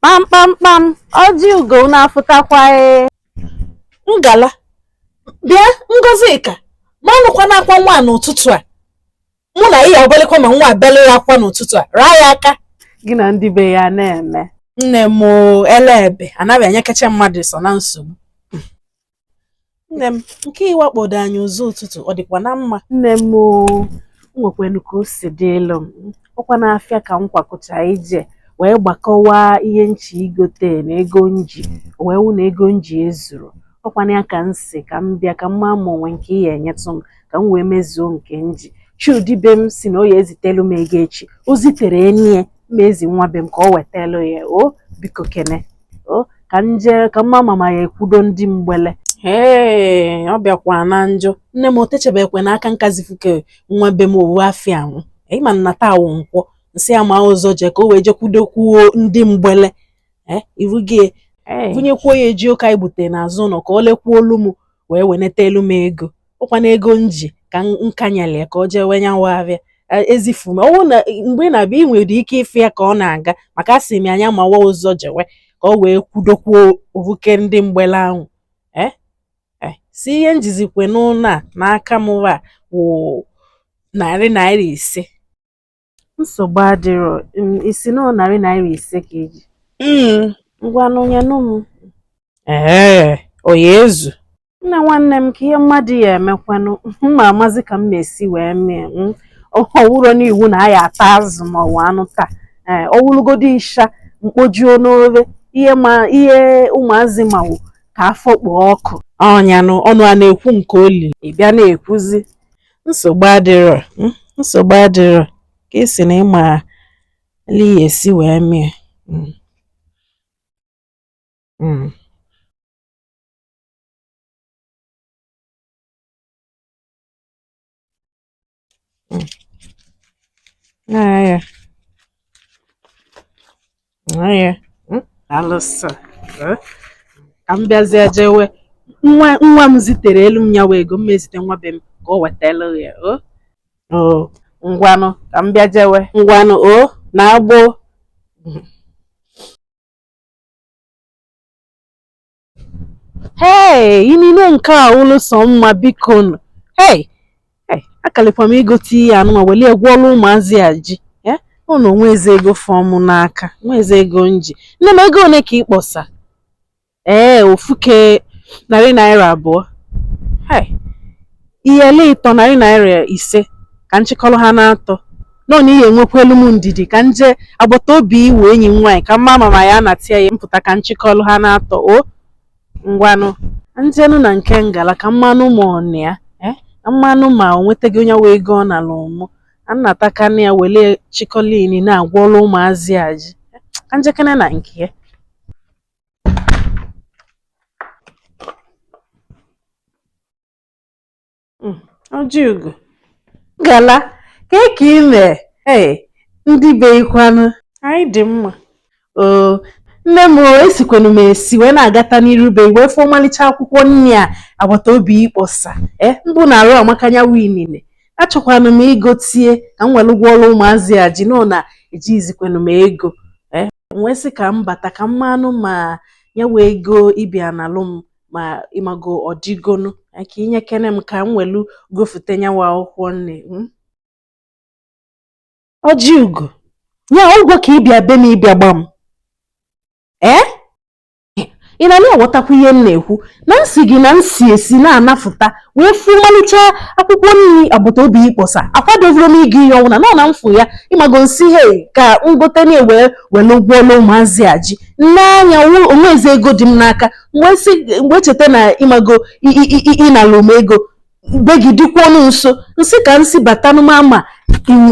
kpamkpamkpam ọjị ugo na-afụtakwa ee ngala bịa ngozika ma ọnụkwa na-akwa nwa a n'ụtụtụ a mụ na ị ya agbalịkwa ma nwa abịala ya akwa n'ụtụtụ a raa ya aka gị na ndị be ya na-eme nne m oo, ele ebe anaghị enyekacha mmadụ so na nsogbu nne m nke ị wakpodo anyị ụzọ ụtụtụ ọ dịkwa na mma nne m o nwekwenu ka o si dị elu m ọkwa n'afịa ka m kwakọcha ije wee gbakọwa ihe m chọ igote na ego m ji o wee wụ na ego m ji ezuro ọkwanụ ya ka m sị ka m bịa ka m maa ma o nwe nke ị ya-enyetụ m ka m wee mezuo nke m ji chudi be m sị na ọ ya-ezitelu m ego echi o zitere enyi ya ma ezi nwa be m ka o wetelu ya o biko kene ka m je ka m maa ma m ya-ekwudo ndị mgbele ee ọ bịakwa na njọ nne m o techebekwe n'aka m ka zifu ke nwa be m ofu afịa anwụ ị ma na taa wụ nkwọ m sị ya maa ụzọ jee ka o wee jekwudokwuo ndị mgbele eh, irugie vunyekwuo ya jioko anyị gbute n'azụ ụlọ ka o lekwuoolu m wee weneta elu m ego ọkwa na ego m ji ka m kanyela ya ka o jewe nya wụ afịa ezifu m ọ wụ na mgbe ị na-abịa ị nwere ike ịfụ ya ka ọ na-aga maka asị m nya mawa ụzọ jewe ka o wee kwudokwuo ofu ke ndị mgbele ahụ eh? Eh, sọ ihe m jizikwe n'ụlọ a n'aka m wa wụ narị naira ise Nsogbu adịrọ, um ị sị na ọ narị naira ise ka i ji. Mm. Ngwanụ nyenụ m. Ee, ọ ya ezu. Nne nwanne m ka ihe mmadụ ya emekwanụ m ma amazi ka m me esi wee mee mm. ọ wụrọ n'iwu na a ya ata azụ ma ọwụ anụ taa ee ọ wụrụgodo ịsha m kpojuo n'ofe ihe ụmụazị ma wụ ka afọ kpoo ọkụ ọnyanụ ọnụ a na-ekwu nke oli ị bịa na-ekwuzi nsogbu adịrọ hmm, nsogbu adịrọ ka ị sị na ị ma li ya esi wee mee hmm. hmm. Ah, yeah. hmm? alụsọ eh? ka m bịazie jewe nwa m zitere elu m nya wụ ego m ezite nwa be m ka o wetelu ya o oh? oh, ngwanụ ka m bịa jewe ngwanụ o oh, naa gboo Hey, inine nke a ụlụ sọ mma biko nụ. Hey, hey, akalịkwa m igote ihe anụnwa welie gwọọlụ ụmụazị a ji. Eh, ọ na nwa ezi ego fọ mụ n'aka, nwa ezi ego m ji. Nne m ego one ka ị kpọsa? Ee, ofu ke narị naira abụọ. Hey. Iyeli ịtọ narị naira ise ka nchịkọrọ ha na-atọ nọ na ihe nwekwelu m ndidi ka nje agbata obi wụ enyi m nwaanyị ka mma ma ma ya na-atịa ya mpụta ka nchịkọrọ ha na-atọ o ngwanụ njenụ na nke Ngala ka mmanụ ma ọ na ya eh, ka mmanụ ma o nwetago nyawa ego ọ nala m mụ anatakana ya wele chịkọlini na-agwọlụ ụmụazị a ji Eh, ka njekene na nke ya hmm, Ojiugo Ngala kee ka ị mee ee ndị be i kwanụ anyị dị mma oo nne m esikwenu m esi wee na-agata n'iru be i wee fụ ọmalịcha akwụkwọ nri a agbata obi ị kpọsa ee eh, mbụ na arụ amaka nyawa inine achọkwanụ m igotie ka m were gwọọrụ ụmụazị a ji nọ na ejizikwenu m ego ee eh, wee sị ka m bata ka m manụ ma nyawa ego ị bịa nalụ m ma ịmago ọdịgonu ka inye kene m ka m welu gofute nyawa akwụkwọ nri hmm? Ojiugo ya ụgwọ ka ị bịa be m ịbịa gba m ee ị na na-aghọtakwa ihe m na-ekwu na nsị gị na nsị esi na-anafụta wee fụ ọmalịcha akwụkwọ nri agbata obi ị kpọsa akwadovoro m igo ihe ọnwụna nọ na mfụ ya ịmago nsị he ka ngote na-ewee were gwọọlụ ụmụazị a ji n'anya o nwezi ego dị m n'aka mgbe si mgbe cheta na ịmago ịnala m ego be gị dịkwa ọnụ nso nsị ka nsị batanụ mma ma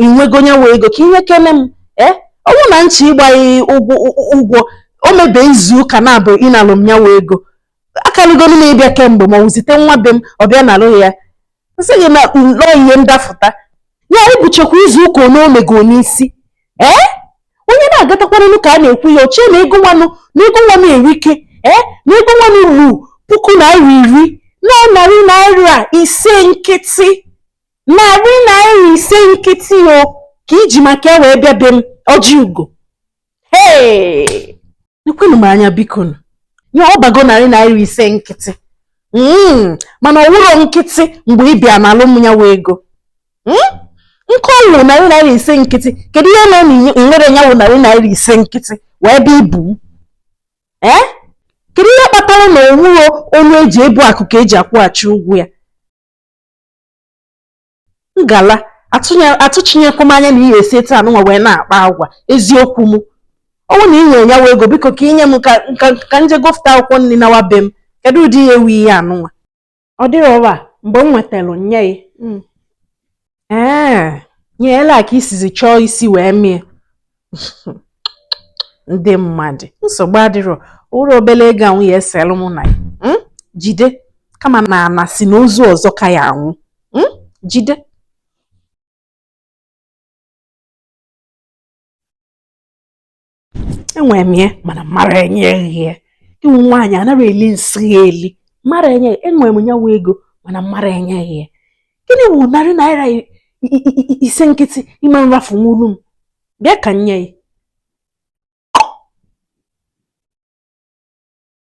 inwego nyawa ego ka inye kene m ee ọnwụ na nchọ ịgba ghị ụgwọ o mebe izu ụka naabọ ị nalụ m nyawa ego akarịgonu m ịbịa kemgbe ma ọ wụ zite nwa be m ọ bịa nalụ ya nsị gị na nọ ihe ndafụta ya i buchekwa izu ụka ole o mego n'isi ee onye na-agatakwaranụ ka a na-ekwu ya o chie na ego nwanụ na ego nwanụ erike ee na ego nwanụ ruru puku naira iri na narị naira ise nkịtị narị naira ise nkịtị ọ ka i ji maka ya wee bịa be m Ojiugo nekwenụ m anya biko nye ọ bụgo narị naira ise nkịtị hmm, mana ọ wụrọ nkịtị mgbe ị bịa nalụ m nyawa ego hmm? nke ọ wụ narị naira ise nkịtị kedu ihe mere na i nwerọ nyawa narị naira ise nkịtị wee bịa ibu m ee eh? kedu ihe kpatara na ọ wụrọ ọnụ eji ebu akụ ka eji akwụghachi ụgwọ ya Ngala atụchinyekwọ m anya na ị ya-esi etu anụnwa wee na-akpa agwa eziokwu m ọnwụ na ị nwe nyawa ego biko ka inye m ka nje gofụta akwụkwọ nri nawa be m kedu ụdị ihe wu ihe anụnwa ọ dịrọ ọ wụ mgbe m nwetara nnye ghị hmm. ee nyeela ka isizi chọọ isi wee mie ndị mmadụ nsogbu adịrọ ụrụ obele ego anwụ ya eselụ mụ na ya hmm? jide kama na a na-asị na ozu ọzọ ka ya anwụ hmm? jide enwere m ya mana mara enye gị ya ị wụ nwaanyị anarọ eli nsị ya eli mara enye enwere m nya wụ ego mana mara enye gị ya gịnị wụ narị naira ise nkịtị ị ma nrafu nwulu m bịa ka m nye ya